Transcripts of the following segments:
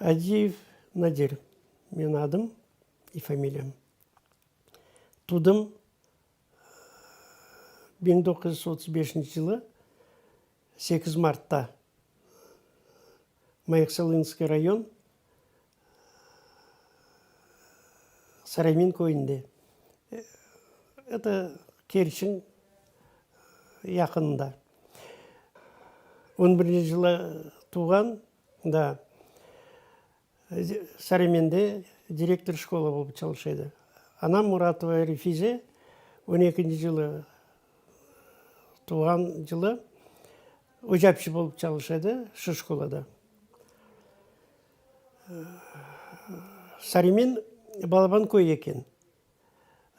Aziyev Nadir, menim adım, i familiyam. Tudım biñ doquz yüz otuz beşinci yılı sekiz martta, Mayaksalınsıy rayon, Saremin köyünde, eto, Kerçiñ yaqınında. On birinci yılı tuvğan da, Sareminde direktor şkola olıp çalışa edi. Anam Muratova Refize, on ekinci yılı tuvğan yılı, ocapçı olıp çalışa edi şu şkolada. Sarimin balaban köy eken.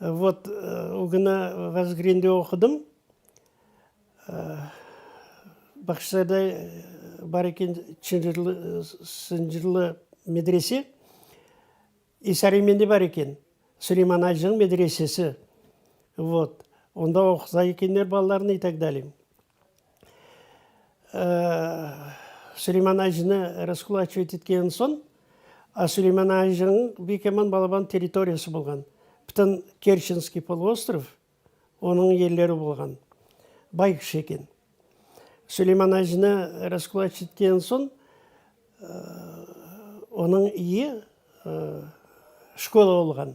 Vot, o günü Vazgirende oqudım. Bahçesarayda bar eken Çınjırlı, Sıncırlı medrese. E, Sariminde bar eken Suleyman Acığ medresesi. Vot, onda oquta ekenler balalarını, i tak daliy. Süleyman Ajinı raskulaçivet etken soñ, Süleyman Ajiniñ büyük eman balaban territoriyası bolğan. Bütün Kerçenskiy poloostrov onıñ yerleri bolğan. Bay kişi eken. Süleyman Ajinı raskulaç etken soñ, onıñ iye şkola olğan.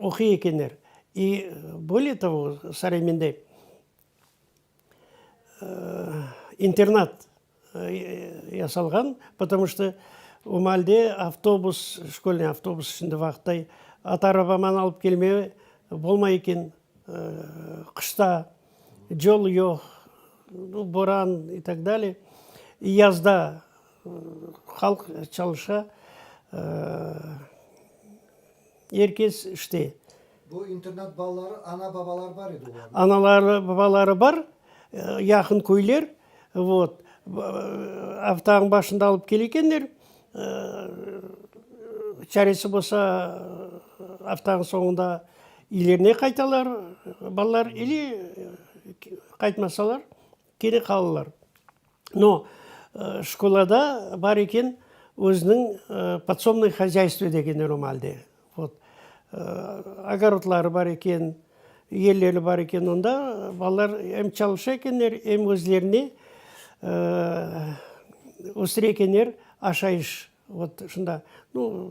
oquy ekenler. İ böyle tabu saray mende internat yasalğan, potomu şto o maalde avtobus, şkolnıy avtobus şimdi vaqıttay at arabaman alıp kelme bolmay eken, qışta yol yoq, boran, i tak dalye. Yazda. Halq çalışa, er kes işte. Bu internat balaları, ana-babaları bar edi olarnıñ? Anaları, babaları bar, yaqın köyler, vot. Avtağın başında alıp kele ekenler, çaresi bolsa, avtağın soñunda iylerine qaytalar balalar, ele qaytmasalar. Keri qalılar. No, şkolada bar eken özüniñ podsomnoy hozâystvo degeni romalde. Vot. Ogorodları bar eken, yerleri bar eken. Onda balalar em çalışa ekenler, em özlerini östüre ekenler, aşayış. Vot şunda. No,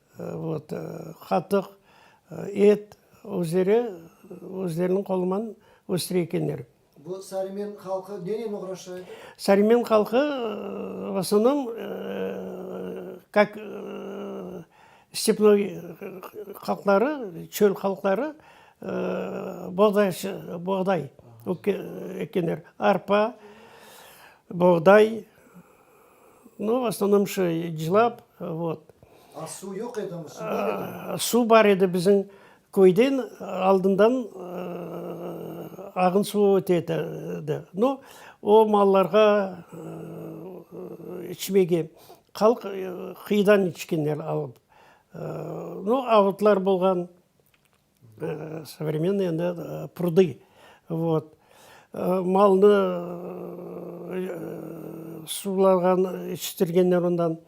Vot, qatıq, et, özleri özleriniñ qoluman östire ekenler. Bu Sarimen halqı nenen oğraşa edi? Sarimen halqı, v osnovnom, kak stepnoy halqları, çöl halqları, boğdaycı, boğday ekenler, arpa, boğday. No, v osnovnom şu cılap, vot. A suv yoq edimi? Suv bar edimi? Suv bar edi, bizim köyden aldından ağın suvu öte edi. No, o mallarğa içmege, halq qıyıdan içkenler alıp. No, avutlar bolğan. Sovremennıye endi prudı vot. Malnı suvlardan içtirgenler ondan.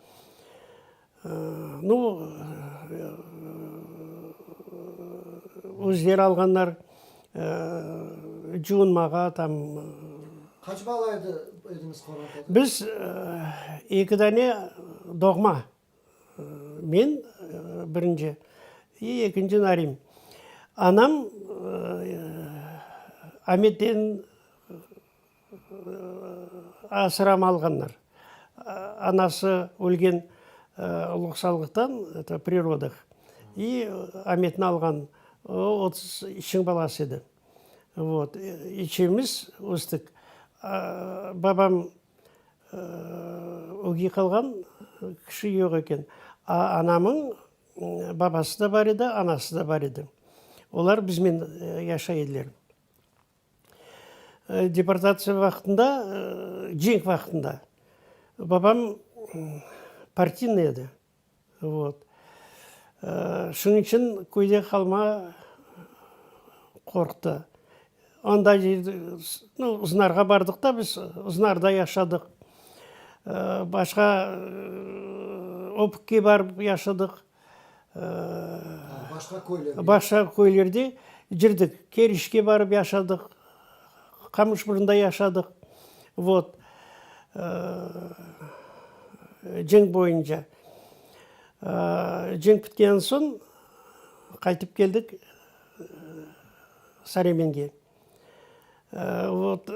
Nu, özleri alğanlar cuunmağa tam. Qaç bala ediñiz? Biz eki dane doğma. Men birinci, i ekinci Narim. Anam Ametten asıram alğanlar. Anası ölgen loqsallıqtan, eto, pri rodıh, i Ametni alğan, o otuz içiñ balası edi. Vot. İçimiz östük. Babam. Ögey qalğan kişi yoq eken. Anamıñ babası da bar edi, anası da bar edi. Olar biznen yaşay ediler. Deportatsiya vaqtında, cenk vaqtında babam partiyniy edi. Vot. Şunıñ içün köyde qalmağa qorqtı. Onda Uznarğa bardıq da biz, Uznarda yaşadıq. Başqa Öpükke barıp yaşadıq. Başqa köylerde yürdik. Kerişke barıp yaşadıq. Qamışburunda yaşadıq. Vot. Cenk boyunca. Cenk bitken soñ qaytıp keldik Saremenge. Vot.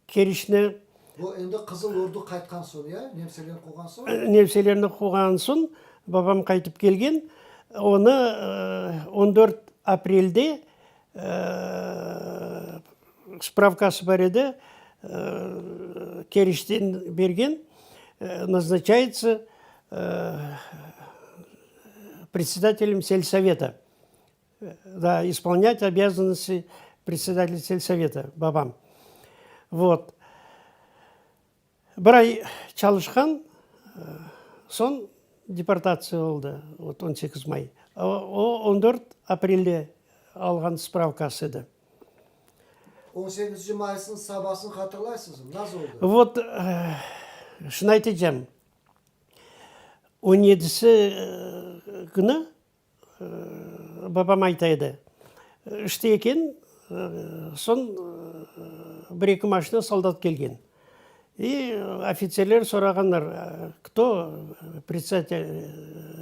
kirişni. Bu endi Qızıl Ordu qaytqan soñ ya, nemselerni quvğan soñ? Nemselerni quvğan soñ babam qaytıp kelgen. Onı on dört aprelde spravkası bar edi, kirişten bergen, nazначayıtsı predsedatelem selsoveta. da ispolinyat obâzannosti predsedatelı selsoveta, babam. Vot. Bir ay çalışqan, soñ deportatsiya oldı, vot on sekiz may. O, on dört aprelde alğan spravkası edi. On sekizinci maysınıñ sabasını hatırlaysıñızmı? Nasıl oldı? Vot, şunı aytacağım, on yedisi künü, Babam ayta edi, İşte eken, soñ bir-eki maşina soldat kelgen. İ ofitserler sorağanlar, kto predsedatel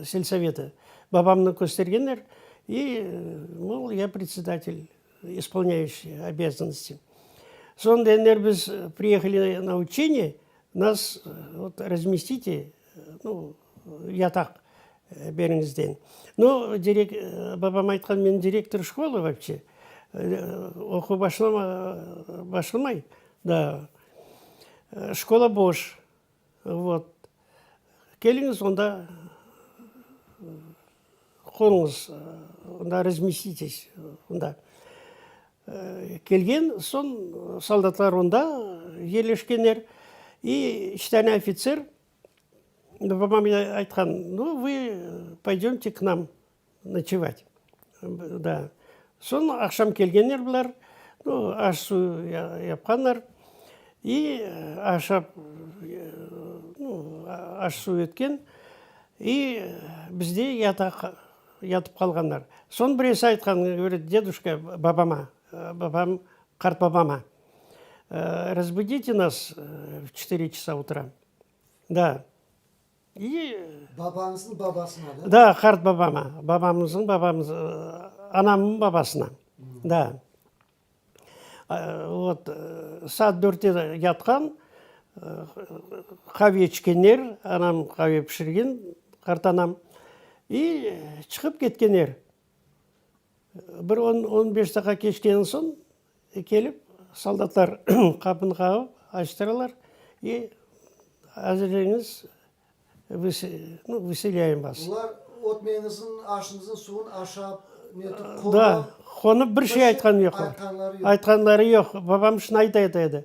selsoveti? Babamnı köstergenler, İ mol, ya predsedatel, ispolinaющiy obezanosti. Soñ degenler, biz priyehali na uçeniye, nas razmestite, nu, Yataq beriñizden. No, direk, babam aytqan, men direktor şkola vapşe. Oquv başlama, başlamay daa. Şkola boş. Vot. Keliñiz onda qonuñız, onda razmestiteş onda. Kelgen soñ, soldatlar onda yerleşkenler. İ üç tane ofitser Babam ine aytqan, nu, vı poydömte k nam noçevât. Da. Soñ aqşam kelgenler bular, nu, aş-suv yapqanlar. İ ahşap, nu, aş-suv etken, i bizde yataq, yatıp qalğanlar. Soñ birisi aytqan, govorit, deduşka, babama, babam, qartbabama. Razbudite nas v çetiri çasa utra. Da. Babañıznıñ babasına da? Da, qart babama, babamıñıñ babamız, anamnıñ babasına. Da. Vot, saat dörtte yatqan, qave içkenler, anam qave pişirgen, qartanam, i çıqıp ketkenler. Bir on, on beş daqa keçkenen soñ kelip, soldatlar qapını qağıp, açtıralar, i azirleniñiz, biz, nu, veselâyımız. Olar ötmeñizin, aşıñızın suvun aşap, netip qonıp. Da, qonıp, bir şey aytqanı yoq. Aytqanları yoq. Aytqanları yoq. Babam şunı ayta edi.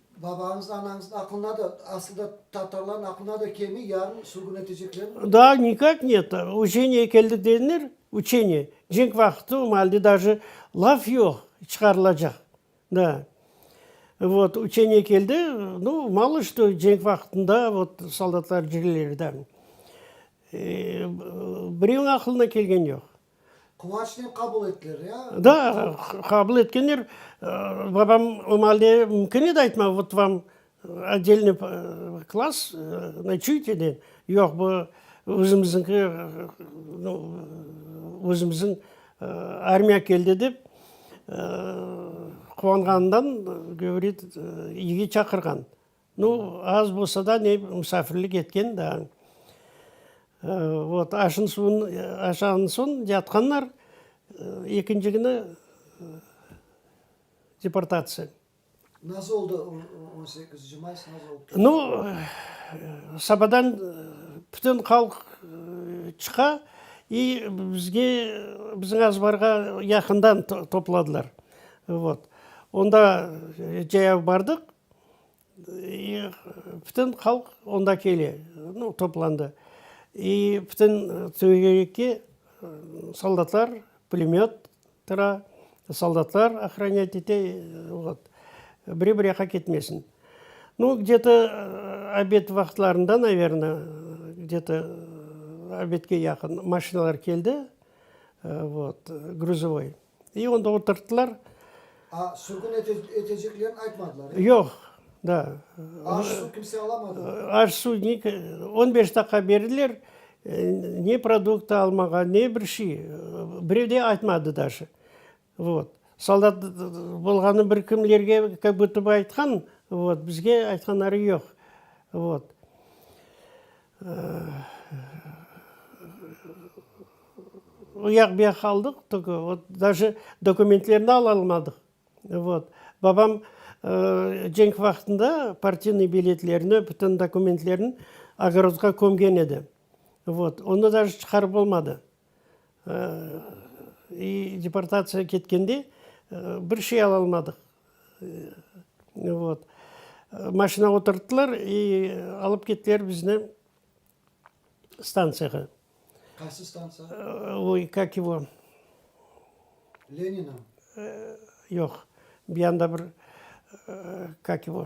Babañız, anañız aqlına da, asılda tatarlarnıñ aqlına da kemi, yarın sürgün eteceklermi bunı? Daa nikak net. Uçeniye keldi dediler, uçeniye. Cenk vaqıtı, o malde daje laf yoq, çıqarılacaq. Da. Vot, uçeniye keldi, nu, malo što cenk vaqıtında vot soldatlar cirilir da. Birevniñ aqlına kelgeni yoq. Quvançnen qabul ettiler ya? Da, qabul etkenler. Babam omahalde mümkün edi aytmağa, vot vam otdelniy klass, noçuyte de. Yoq, bu özümizniñki, özümizniñ armiya keldi dep quvanğanından, govorit, evge çaqırğan. Nu, az bolsa da ne musafirlik etken daa. Vot, aşın suvun aşağan soñ yatqanlar, ekinci künü deportatsiya. Nasıl oldı o on sekizinci may, nasıl oldı? Nu, sabadan bütün halq çıqa i bizge, bizim azbarğa yaqından topladılar. Vot. Onda cayav bardıq. Bütün halq onda kele, toplandı. İ bütün tögerekte soldatlar pulemöt tura, soldatlar ohranять ete, vot. Biri bir yaqqa ketmesin. Nu, gne to obed vaqtlarında, naverna, gne to obedke yaqın maşinalar keldi, vot, gruzovoy. İ, onda oturttılar. A, sürgün eteceklerini aytmadılar, e? Yoq, da. Aş, su kimse alamadı mı? Aş, su, on beş daqqa berdiler, ne produkt almağa, ne bir şey, birev de aytmadı daşı. Vot. Soldat bolğanı bir kimlerge kak butuba aytqan, vot, bizge aytqanları yoq. Vot. O yaq, bu yaq qaldıq, tokö vot daje dokumentlerini alalmadıq. Vot. Babam cenk vaqtında partiniy biletlerini, bütün dokumentlerini ogorodğa kömgen edi. Vot. Onı daje çıqarıp olmadı. I deportatsiya ketkende bir şey alalmadıq. Vot. Maşina oturttılar i alıp kettiler bizni stantsiyağa. Qaysı stantsiya? Oy, kak yivo? Leninam? Yoq, bir yanda bir, kak yivo?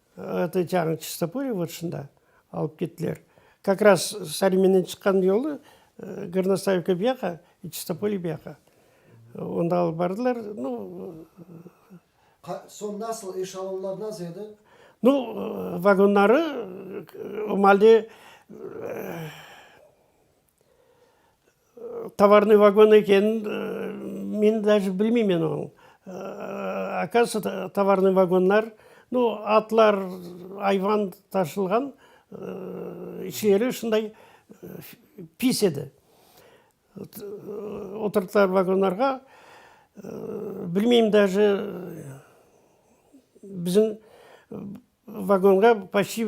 Eti çağın Çistopurye vırtşında alıp kettiler. Kak raz Sari menen çıqqan yolu Gornostaivka bu yaqa, Çistopurye bu yaqa. Onda alıp bardılar. Nu, Soñ nasıl, eşalonlar nasıl edi? Nu, vagonları, o malde, Tovarnıy vagon ekenin men daje bilmeymen onıñ. Akasiyada tovarnıy vagonlar, bu atlar, ayvan taşınğan içleri şunday pis edi. Oturttılar vagonlarğa, bilmeyim daje bizim vagonğa poşti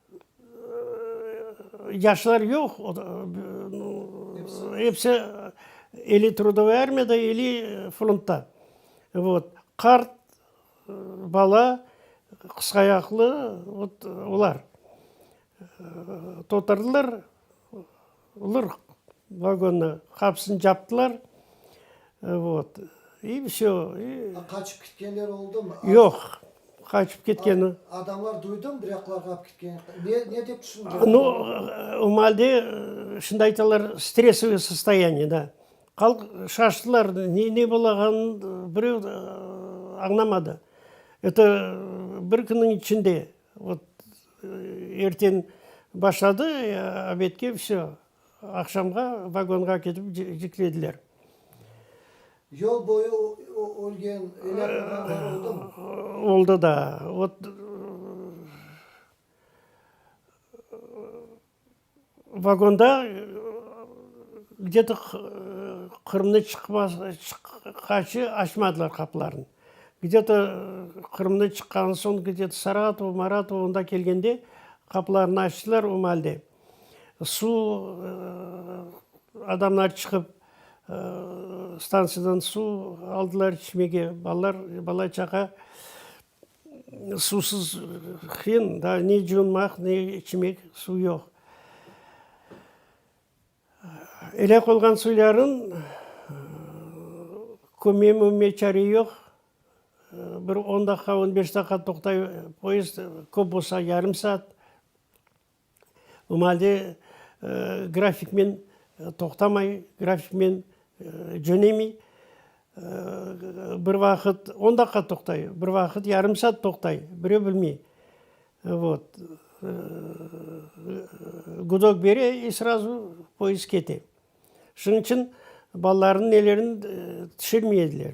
Yaşlar yoq, episi eli trudovoy armiyada, eli frontta. Vot. Qart, bala, qısqayaqlı, vot olar. Totardılar. Olar vagonnı qapısını captılar, vot, i vsё, i. A qaçıp ketkenler oldumı? Yoq, qaçıp ketken. Adamlar duydımı, bir yaqlarğa alıp ketken? Ne, ne dep tüşündiler? No, o malde, şimdi aytalar, stressovıy sostoyaniye, da. Halq şaştılar, ne, ne bolağanın bireu añlamadı. Eto, bir künniñ içinde Ot, erten başladı, obedke, vse, aqşamğa vagonğa ketip ciklediler. Yol boyu ölgen eller adamlar oldumı? Oldı da. Ot, Vagonda gde to Qırımnı çıqqaçı açmadılar qapılarını. Gde to Qırımnı çıqqan soñ gde to Saratovo, Maratovo onda kelgende qapılarını açtılar, o malde suv adamlar çıqıp stantsiyadan suv aldılar içmege, balalar, bala-çaqa. Suvsuz qıyın, daa ne cuunmaq, ne içmek, suv yoq. Elâk olğan suyların kömüye mümüye çare yoq. Bir on daqqa, on beş daqqa toqtay poezd, köp olsa yarım saat. Mı halde grafiknen toqtamay, grafiknen cönemey. Bir vaqıt on daqqa toqtay, bir vaqıt yarım saat toqtay, birey bilmey. Vot. Gudok bere i srazu poezd kete. Şunıñ içün balalarnıñ nelerini tüşürmey ediler.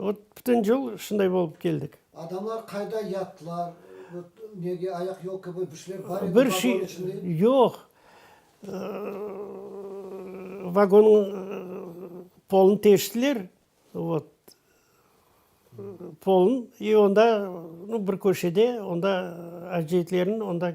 Ot, bütün yıl şunday bolıp keldik. Adamlar qayda yattılar? Ot, nege, ayaq-yol kibi bir şeyler bar edi vagonıñ içinde? Yoq. Vagonıñ polunı teştiler, ot, polun, i onda bir köşede, onda aciyetlerniñ onda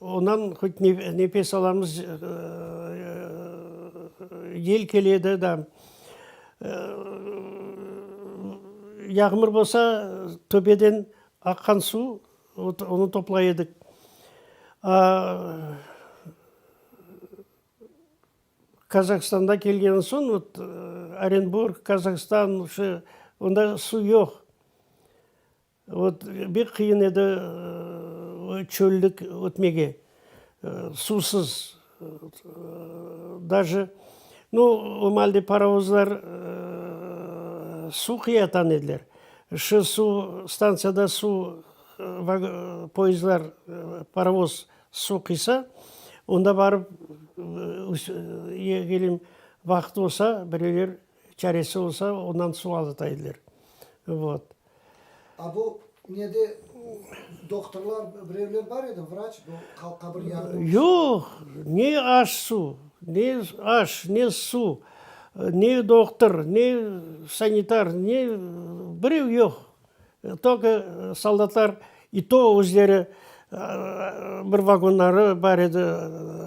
Ondan hut nefes alamız, yel keledi da. Yağmur bolsa, töbeden aqqan suv, onı toplay edik. Kazahstandan kelgenden soñ, Orenburg, Kazahstan, onda suv yoq. Ot, bek qıyın edi o çöllik ötmege, suvsız. Daje, nu, o malde parovozlar suv qıya atan ediler. Şı suv, stantsiyada suv poezdlar, parovoz suv qıysa, onda barıp yegelim vaqıt olsa, birevler çaresi olsa, ondan suv alata ediler. Vot. A bu nede doktorlar birevler bar edi, vraç, bu qabir yarığı olsun. Yoq, ne aş su, ne aş, ne su, ne doktor, ne sanitar, ne birev yoq. Tokı soldatlar, i to özleri bir vagonları bar edi,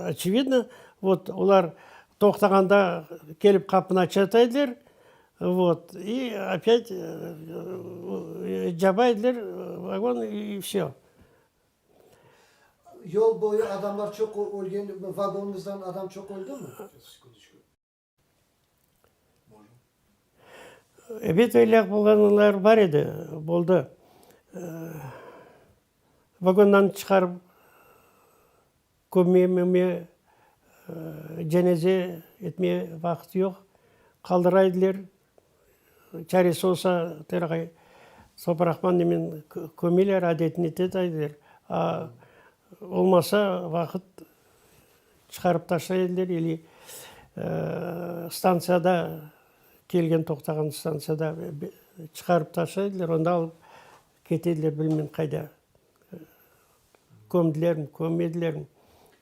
oçevidno, vot olar toqtağanda kelip qapını açata ediler, Vot, i opyat caba ediler vagon i vse. Yol boyu adamlar çoq ölgen, vagonımızdan adam çoq öldümi? Ebet elâk bolğanlar bar edi, boldı. Vagondan çıqarıp. Kömmeime cenaze etmeye vaqıt yoq, qaldıray ediler, çaresi olsa tırğay soparaqman nemen kömeler, adetine tetay ediler, a olmasa vaqıt çıqarıp taşlay ediler ili stantsiyada, kelgen toqtağan stantsiyada çıqarıp taşlay ediler, onda alıp. Ketediler, bilmem qayda, kömdilermi, kömmedilermi,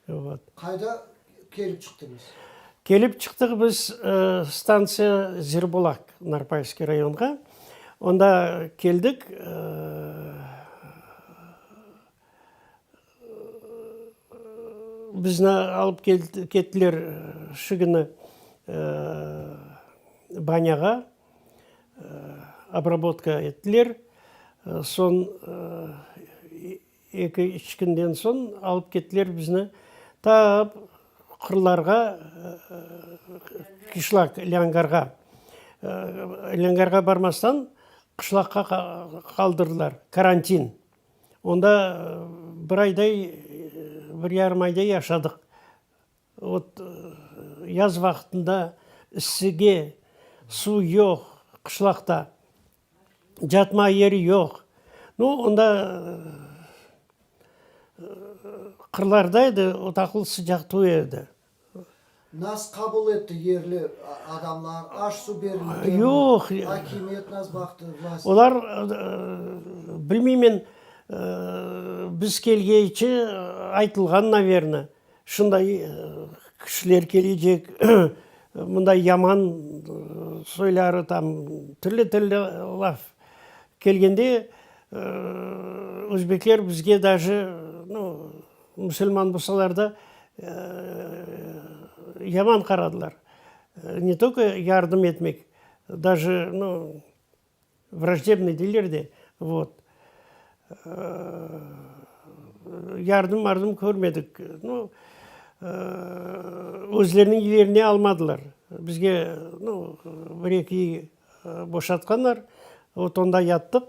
vot. Qayda kelip çıqtıñız? Kelip çıqtıq biz stantsiya Zirbulaq, Narpayskiy rayonğa. Onda keldik, bizni alıp kettiler şu künü Banyağa. Obrabotka ettiler. Soñ eki, üç künden soñ alıp kettiler bizni ta qırlarğa, qışlaq, lâñgarğa. Lâñgarğa barmastan qışlaqqa qaldırdılar, karantin. Onda bir ayday, bir yarım ayday yaşadıq. Ot, yaz vaqtında ıssıge, suv yoq qışlaqta, catmağa yeri yoq. Nu, onda qırlarda edi, ot aqıl sıcaq tüv edi. Nasıl qabul etti yerli adamlar? Aş, suv berilgenmi? Yoq. Akimiyet nasıl baqtı, vlast? Olar, bilmeymen, biz kelgeyçi aytılğan, naverna. Şunday kişiler kelecek, bunday yaman soyları tam, türlü-türlü laf kelgende, özbekler bizge daji, nu, musulman bolsalar da, yaman qaradılar. Ne toko yardım etmek, daji, nu, Vraždebnıy deyler de, vot. Yardım mardım körmedik. Nu, özleriniñ yerine almadılar. Bizge, nu, bir eki iy boşatqanlar, vot onda yattıq.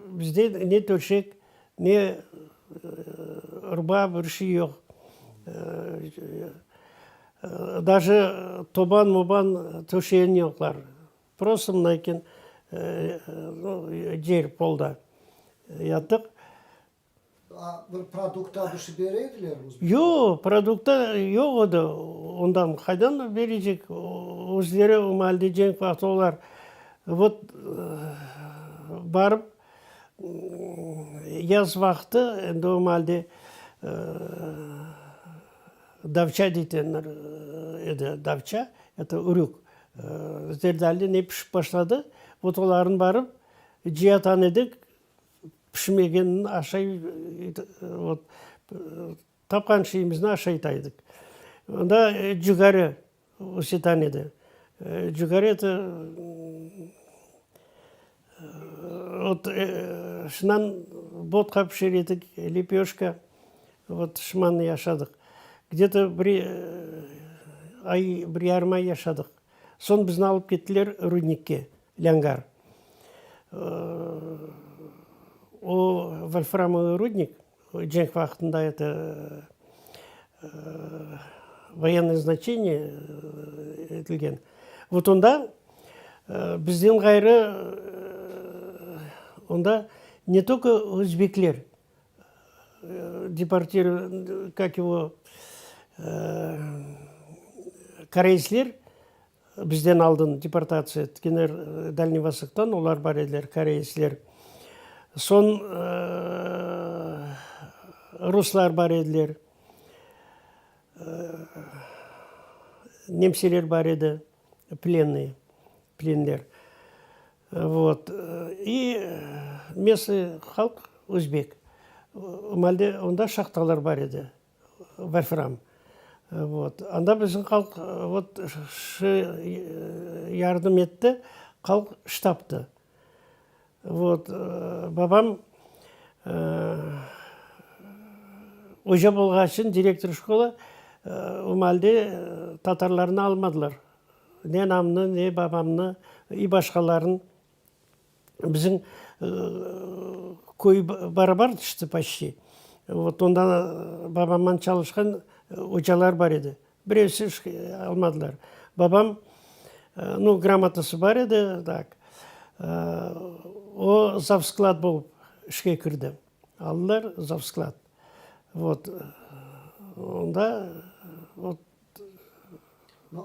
Bizde ne töşek, ne rba, bir şey yoq. Daje toban-moban töşeyen yoqlar. Prosta mınayken, yer, polda yatıq. Bir produkta bir şey bere ediler mi? Yoq, produkta yoq edi. Ondan qaydan berecek? Özleri o malde cenk vaqtı olar vot barıp yaz vaqtı endi o malde davça deytenler edi, davça, eto ürük, zerdali ne pişip başladı, vot olarnı barıp cıyatan edik. Pişmegenini aşay, vot, tapqan şeyimizni aşaytaydık. Onda cügeri usetan edi. Cügeri eti, vot, şundan vodka pişer edik, lepöşka, vot, şımanı yaşadıq. Gde to bir ay, bir yarım ay yaşadıq. Soñ bizni alıp kettiler rudnikke. Lângar. O, volframovıy rudnik, cenk vaqtında eti voyennıy znaçeniye etilgen. Vot onda bizden ğayrı onda ne toko özbekler deportirovka, kak yivo, koreysler Bizden aldın deportatsiya etkenler Dalniy Vosoktan, olar bar ediler, koreysler. Soñ ruslar bar ediler, nemseler bar edi, plennıy, plenler. Vot. İ mesnıy halq, özbek. Malde onda şahtalar bar edi. Wolfram. Vot. Anda bizim halq vot şı yardım etti, halq ştabdı. Vot. Babam oca bolğan içün, direktor şkola, o malde tatarlarnı almadılar. Ne namnı, ne babamnı, i başqalarnı. Bizim köy barabar tüşti paşti. Vot onda babamman çalışqan ocalar bar edi. Birevsi almadılar. Babam, nu, gramotası bar edi, tak. O, zavsklad bolıp işke kirdi. Aldılar zavsklad. Vot, onda, vot.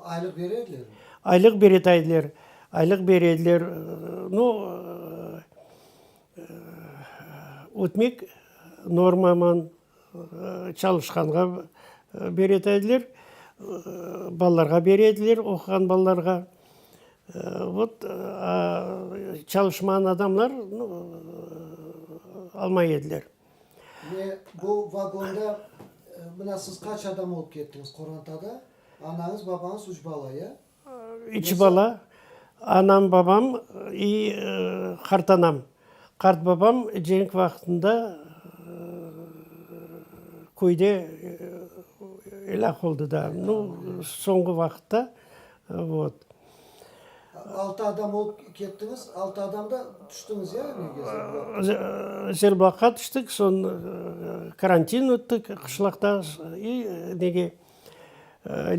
Aylıq beredilermi? Aylıq beretaydılar. Aylıq berediler. No, ötmek normaman çalışqanğa beretaydılar. Balalarğa berediler, oquğan balalarğa. Vot, a çalışmağan adamlar almay ediler. Ve bu vagonda, mına, siz qaç adam olıp kettiñiz qorantada? Anañız, babañız, üç bala, ya? Üç bala, anam, babam i qartanam. Qartbabam cenk vaqtında köyde elâk oldı da, nu, soñğu vaqıtta, vot. Altı adam olıp kettiñiz, altı adam da tüştiñiz ya evge? Zelbağqa tüştik, soñ karantin öttik qışlaqta i nege,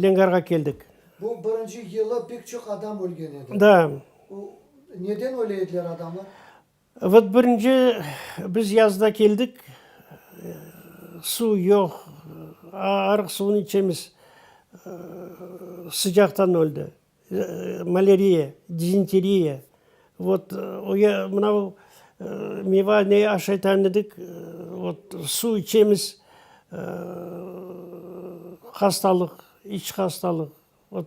Lengarğa keldik. Bu birinci yılı pek çoq adam ölgen edi. Da. Neden öyle ediler adamlar? Vot birinci biz yazda keldik, suv yoq, arıq suvını içemiz, sıcaqtan öldi, maleriya, dizenteriya. Vot mınau meva ne aşaytan edik, vot suv içemiz, hastalıq, iç hastalıq, vot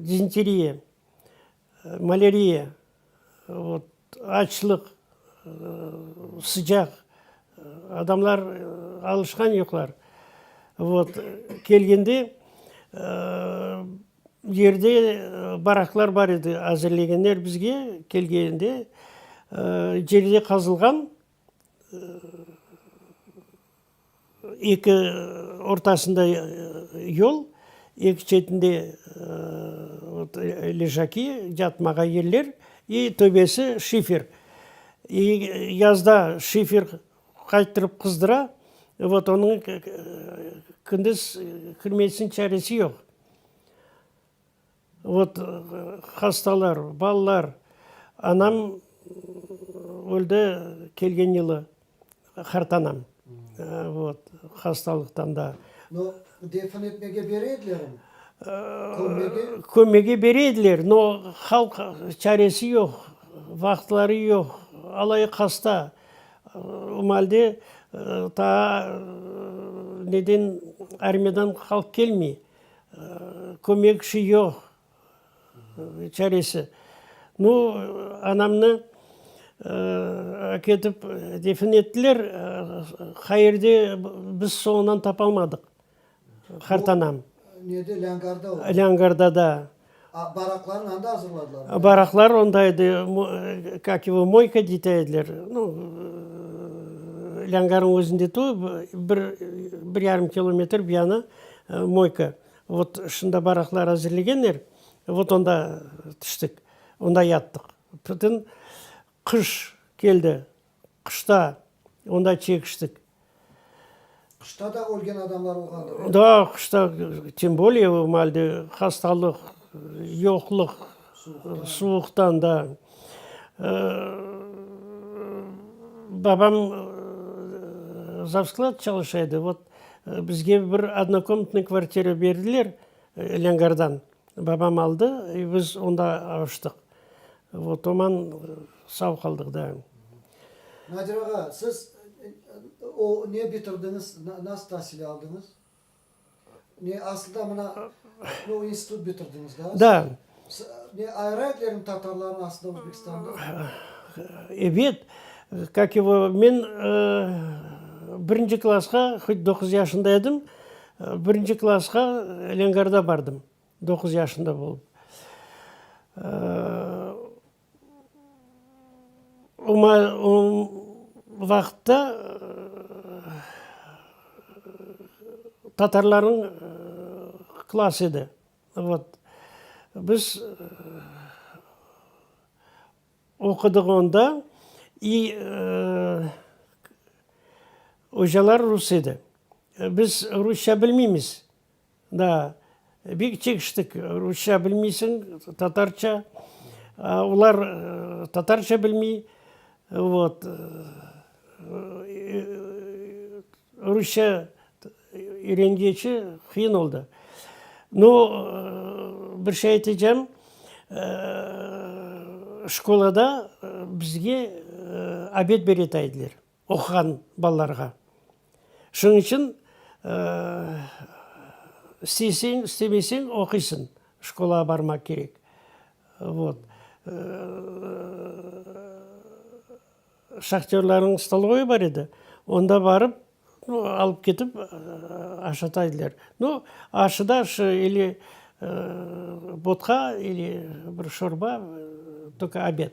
dizenteriya. Maleriya, açlıq, sıcaq, adamlar alışqan yoqlar. Kelgende yerde baraklar bar edi, azırlegenler bizge, kelgende yerde qazılğan. Eki ortasında yol, eki çetinde ležaki, yatmağa yerler, i töbesi şifer. İ yazda şifer qayttırıp qızdıra, vot onıñ kündiz kirmesiniñ çaresi yoq. Ot, hastalar, balalar. Anam öldi kelgen yılı, qartanam. Ot, hastalıqtan da. No, defin etmege bere edilermi? Kömmege? Kömmege bere ediler, no, halq çaresi yoq, vaqıtları yoq, alayıq hasta. O malde taa neden armiyadan halq kelmey. Kömekçi yoq, çaresi. Nu, anamnı aketip defin ettiler. Qayerde, biz soñundan tapalmadıq qartanam. Lângardada. Baraqlarnı anda azırladılarmı? Baraqlar onda edi, kak yivo, moyka deyte ediler. Nu, lângarnıñ özünde tuvıp, bir, bir yarım kilometr bir yanı moyka. Vot, şunda baraqlar azırlegenler, vot onda tüştik, onda yattıq. Bütün qış keldi. Qışta onda çekiştik. Qışta da ölgen adamlar olğandır, e? Da, qışta, tim bolye o malde hastalıq, yoqluq, suvuqtan, da. Babam zavsklad çalışa edi, vot, bizge bir odnokomnatnıy kvartira berdiler, lâgardan babam aldı, biz onda avuştıq. Otoman sav qaldıq daim. Nadir ağa, siz o ne bitirdiñiz, nasıl tasil aldıñız? Ne, asılda mına o institut bitirdiñiz da? Da. Ne, ayrı etlerin tatarlarnı asılda Özbekistanda? Evet, kak yivo, men birinci klasqa, hıç doquz yaşında edim, birinci klasqa Lengarda bardım. Doquz yaşında bolıp, o vaqıtta tatarlarnıñ klass edi. Vot, biz oqudıq onda, i ocalar rus edi. Biz rusça bilmeymiz. Da, bek çekiştik, rusça bilmeysiñ, tatarça, olar tatarça bilmey, vot, rusça öyrengeci qıyın oldı. Nu, bir şey aytacağım, şkolada bizge obed beretaydılar. oquğan balalarğa. Şunıñ içün isteyseñ, istemeyseñ, oquysıñ, şkolağa barmaq kerek. Vot. Şahtörlarnıñ stolvoyı bar edi, onda barıp, nu, alıp ketip aşata ediler. Nu, aşıda şu ili vodka, ili bir şorba, toka obed.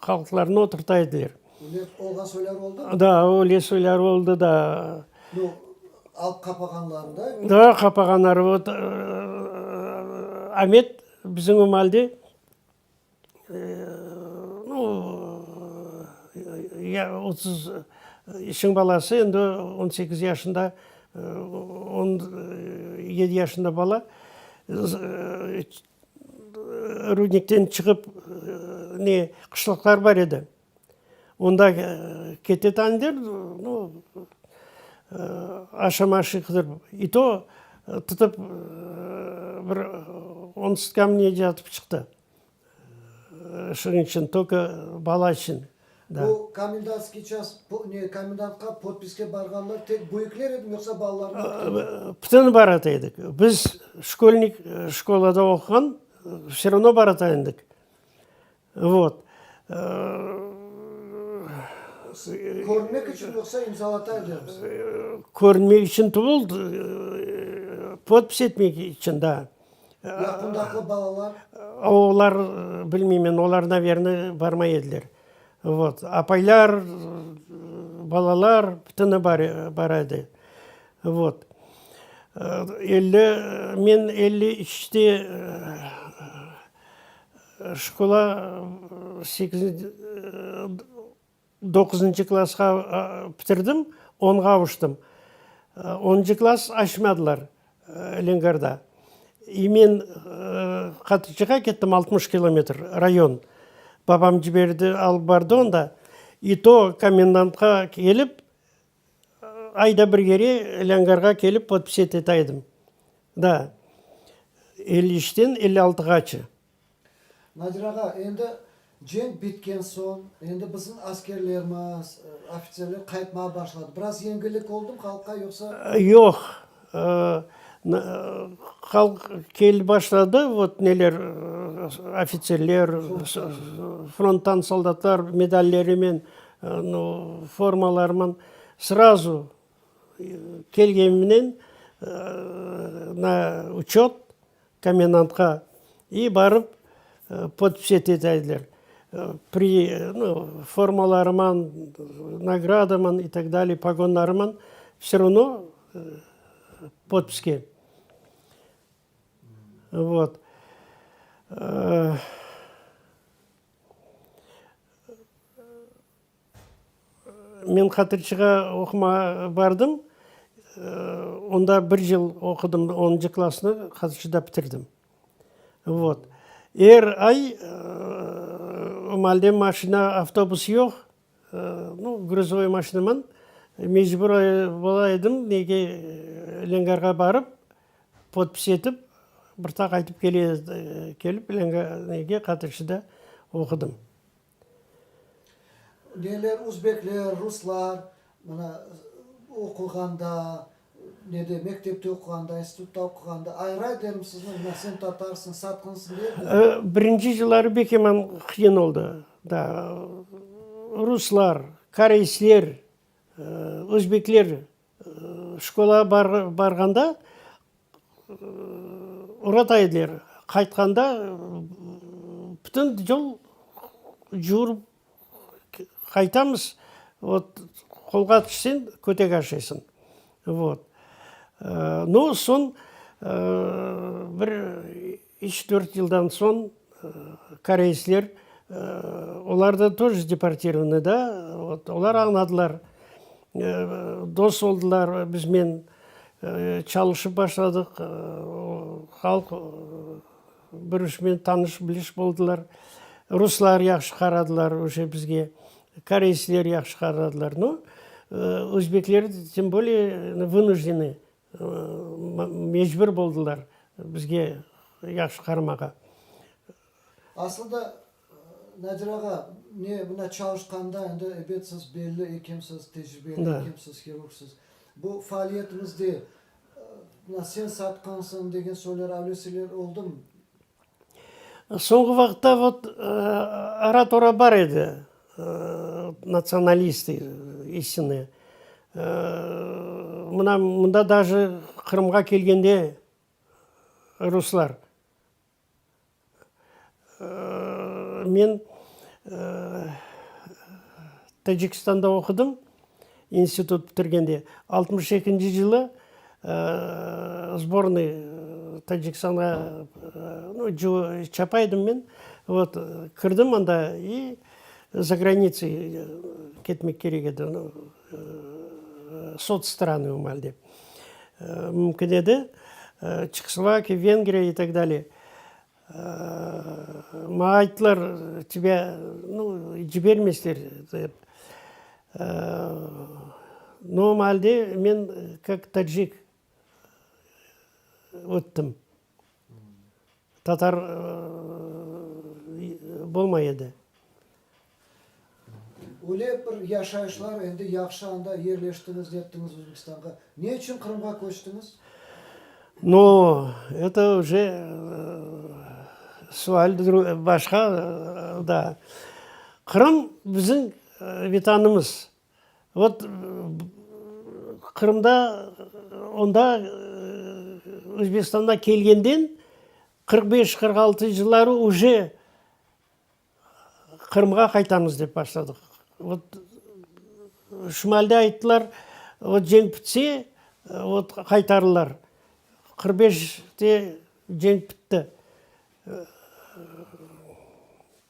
halqlarnı oturta ediler. Lef olğan soylar oldu? Da, öyle soylar oldu da. Yoq, halq qapağanlarında? Da, qapağanları vot, Amet bizim emalde nu, otuz, işin balası, endi on sekiz yaşında, on yedi yaşında bala, Rudnikten çıqıp, ne, qışlaqlar bar edi. Onda kete taniler, no, aşama-aşı qıdırıp. İ to tutıp, bir on sutkamı nece atıp çıqtı. Şunıñ içün, tolko bala içün. Bu komendantskiy ças, ne, komendantqa potpiske barğanlar tek büyükler edimi, yoqsa balalarnı da tutqanlar? Bütün barata edik. Biz şkolnik, şkolada oquğan, vse ravno barata edik. Vot. Körünmek içün, yoqsa imzalata edemiz? Körünmek içün tuvıl, podpis etmek içün, da. Yaqındaki balalar? Olar, bilmeymen, olar, naverno, barmay ediler. Vot. Apaylar, balalar, bütüni bar, bara edi. Vot. Elli, men elli üçte şkola, sekizinci, Doquzıncı klasqa pitirdim, onğa avuştım. Onıncı klas açmadılar Lengarda. E men qatıcığa kettim, altmış kilometr, rayon. Babam ciberdi, alıp bardı onda. İ to komendantqa kelip, ayda bir kere Lângarğa kelip podpis etetaydım. Da, elli üçten elli altıgaçı. Nadir ağa, endi cenk bitken soñ, endi bizim askerlermiz, ofitserler qaytmağa başladı. Biraz yengillik oldumı halqqa, yoqsa? Yoq. Halq kelip başladı, vot neler, ofitserler, fronttan soldatlar medallerinen, formalarınen. Srazu kelgenimnen na uçöt. Komendantqa i barıp podpis ete taydiler. Pri, no, formalarıman, nagradaman i tak daliy, pogonlarıman vse ravno podpiske. Vot. Men hatırçığa oqumağa bardım. Onda bir yıl oqudım, onıncı klassnı hatırçıda bitirdim. Vot. Er ay malde maşina, avtobus yoq, nu, gruzovoy maşinaman mecbur ola edim, nege, Lângarğa barıp, podpis etip, bir ta qaytıp kele, kelip, Lângarğa, nege, hatırçıda oqudım. Neler özbekler, ruslar, mana, oquğanda, nede, mektepte oquğanda, institutta oquğanda ayrı-ayrı derim sizni, mına, sen tatarsıñ, satqınsıñ deyildi. Birinci yılları bek eman qıyın oldı. Da, ruslar, koreysler, özbekler Şkola barğanda urata ediler, qaytqanda bütün yol yürip qaytamız, vot, qolğa tüşsen, kötek aşaysıñ. Vot. No, soñ bir. Üç-dört yıldan soñ koreysler, olar da tój deportirovanıy da, olar añladılar, dos oldılar biznen, çalışıp başladıq, halq bir-üçmen tanış-biliş boldılar. Ruslar yahşı qaradılar oje bizge, koreysler yahşı qaradılar. Özbekler, tem bolее, vınujdenıy Mecbur boldılar bizge yahşı qaramağa. Aslında, Nadir ağa, ne mına çalışqanda, endi, ebet, siz belli ekemsiz, tecribeli ekemsiz, hirurgsız. Bu faaliyetiñizde mına sen satqansıñ degen söyler, öyle şeyler oldumı? Soñki vaqıtta vot ara-tora bar edi, natsionalist isini. Mına mında daje Qırımğa kelgende ruslar. Men Tacikistanda oqudım. İnstitut bitirgende. Altmış ekinci yılı sbornıy Tacikistanğa çapa edim men. Vot, kirdim anda i za granitsıy ketmek kerek edi. Sots stranıy o malde. Mümkün edi. Çekoslovakiya, Vengriya i tak dalye. Maña ayttılar, tebe, nu, cibermesler, dep. Normalde men kak tacik öttim. Tatar bolmay edi. Öyle bir yaşayışlar endi yahşı anda yerleştiñiz, nettiñiz Özbekistanğa. Ne içün Qırımğa köçtiñiz? No, eto oje sual başqa da. Qırım biziñ vetanımız. Vot Qırımda onda Özbekistanğa kelgenden qırq beş, qırq altı yılları oje Qırımğa qaytamız dep başladıq. Ot, şimalde ayttılar, ot cenk bitse, ot qaytarırlar. Qırq beşte cenk bitti.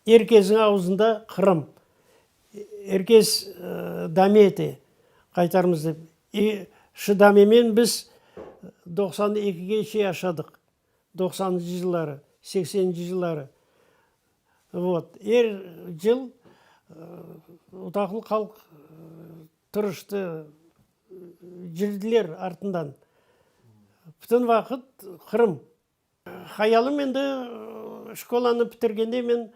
Er kesniñ auzunda Qırım. Er kes dame ete, qaytarmız dep. E, şu damemen biz doqsan ekige şey yaşadıq. Doqsanıncı yılları, sekseninci yılları vot, er yıl otaqlı halq tırıştı, yürüdiler artından. Bütün vaqıt Qırım. Hayalım endi şkolanı bitirgende men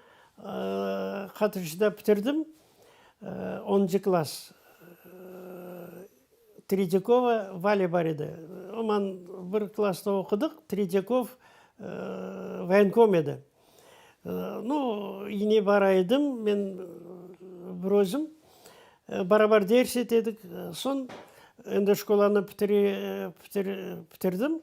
Qatırcıda bitirdim, onıncı klass. Tretiyakova Valya bar edi. Oman bir klassta oqudıq. Tretiyakov voyenkom edi. Nu, yine bara edim men bir özüm. Barabar ders etedik. Soñ endi şkolanı pitirdim.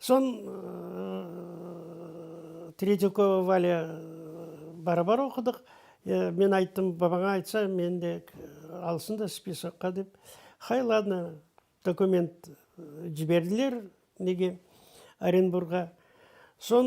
Soñ Tretiyakova Valâ barabar oqudıq. Men ayttım, babaña aytsa, meni de alsın da spiskaqqa dep. Hay, ladno, dokument ciberdiler nege, Orenburgğa. Soñ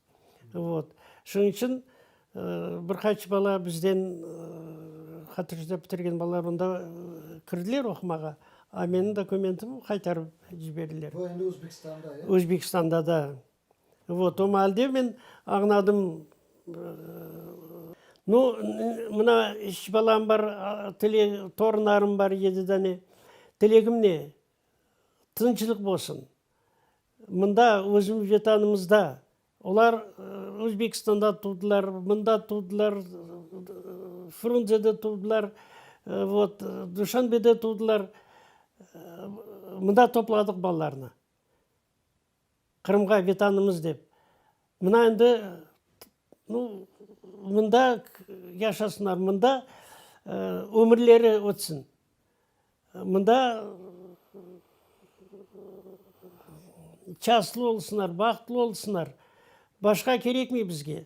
Vot. Şunıñ içün bir qaç bala bizden, hatırcıda bitirgen balalar onda kirdiler oqumağa, a menim dokumentim qaytarıp ciberdiler. Bu endi Özbekistanda, ya? Özbekistanda da. Vot. O maalde men añladım, nu, mına üç balam bar, torunlarım bar, yedi dane. Tilegim ne? Tınçlıq bolsun. Mında, özümiz Vetanımızda. Olar Özbekistanda tuvdılar, mında tuvdılar, Frunzede tuvdılar, vot, Duşanbede tuvdılar. Mında topladıq balalarnı, Qırımğa, Vetanımız dep. Mına endi Nu, mında yaşasınlar, mında ömürleri ötsün, mında şanslı olsunlar, bahtlı olsunlar, başqa kerekmey bizge.